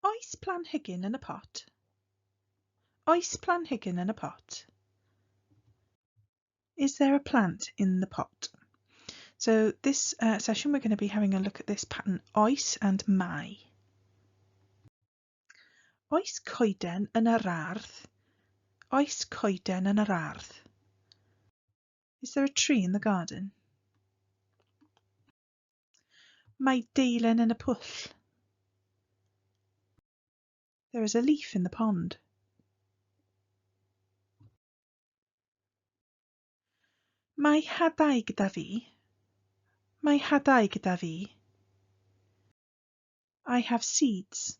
Oes planhigyn yn y pot? Oes planhigyn yn y pot? Is there a plant in the pot? So this uh, session we're going to be having a look at this pattern oes and mai. Oes coeden yn yr ardd? Oes coeden yn yr ardd? Is there a tree in the garden? Mae deilen yn y pwll. There is a leaf in the pond. Mae hadau gyda fi. Mae hadau gyda fi. I have seeds.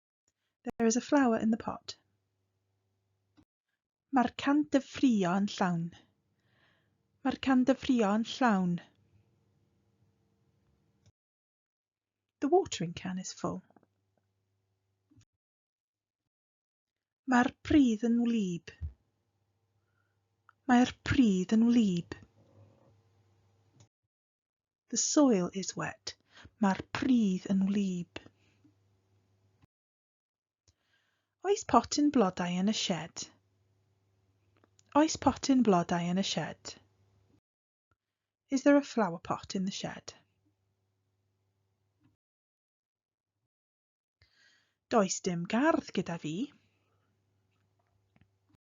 There is a flower in the pot. Mae'r can dyfrio yn llawn. Mae'r can dyfrio yn llawn. The watering can is full. Mae'r pridd yn wlyb. Mae'r pridd yn wlyb. The soil is wet. Mae'r pridd yn wlyb. Oes potyn blodau yn y sied? Oes potyn blodau yn y sied? Is there a flower pot in the shed? Does dim gardd gyda fi.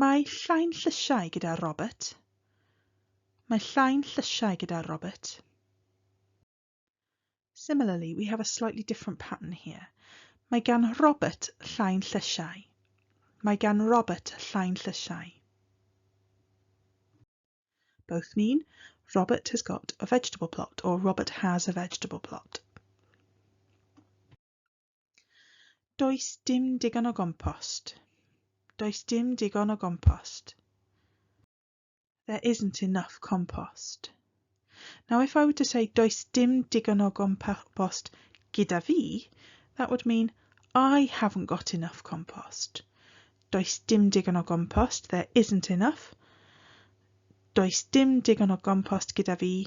Mae llain llysiau gyda Robert. Mae llain llysiau gyda Robert. Similarly, we have a slightly different pattern here. Mae gan Robert llain llysiau. Mae gan Robert llain llysiau. Both mean Robert has got a vegetable plot or Robert has a vegetable plot. Does dim digon o gompost. Does dim digon o gompost. There isn't enough compost. Now if I were to say does dim digon o gompost gyda fi, that would mean I haven't got enough compost. Does dim digon o gompost, there isn't enough. Does dim digon o gompost gyda fi,